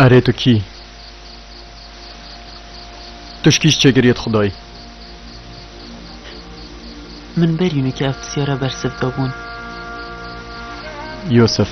Erê tu kî? Tu ji kî ji çêkiriyê dixwedayî? Min berî nekî ev pisyara bersiv dabûn. Yûsif.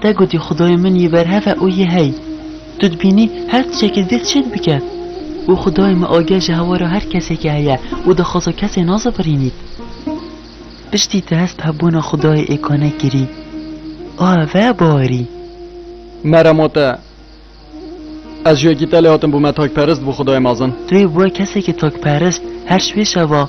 Te gotî Xudoyê min yê berhev e û yê hey. Tu dibînî her tişekê zêd çê dibike. Û Xudayê me ageh ji hewara her kesekê heye û dixwaza kesê nazefirînît. Piştî te hest bi hebûna Xudayê êkane kirî. Ave barî. Merem ot e. Ez ji wekî te lê hatim bûme takperist bo Xudayê mezin. Tu yê bûe kesekê takperist her şwê şeva.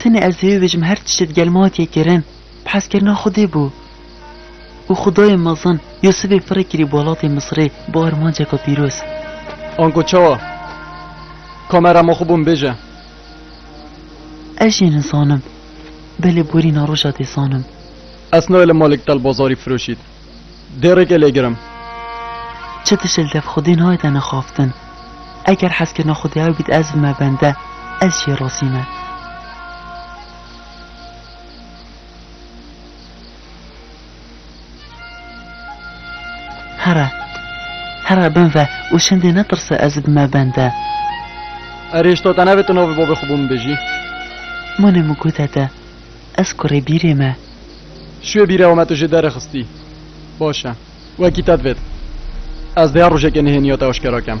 Tenê ez hêvî bijim her tiştê digel me hatiye kirin bi hezkirina Xwedê bû. Û Xwedayê mezin Yûsifê firê kirî bi welatê Misirê bi armanceke pîroz. Ango çawa? Kamera ma xwe bo min bêje. Ez jî nizanim. Belê borîna roja dê zanim. Ez nayê li malê Gital Bazarî firoşît. Dêrêkê lê girim. Çi tişt li dev xwedê nayê te nixaftin. Eger hezkirina xwe diyaw bît ez bime bende, ez jê razî me. Here. Here bin ve û şindê netirse ez bime bende. Erê ji to te nevê tu navê bavê xwe bo min bêjî. Mûnê min ku te te. Ez kurê bîrê me. Şûyê bîrê ew me tu jê derê xistî. Baş e. Wekî te divêt. Ez dêya rojekê nihêniya te aşkera kem.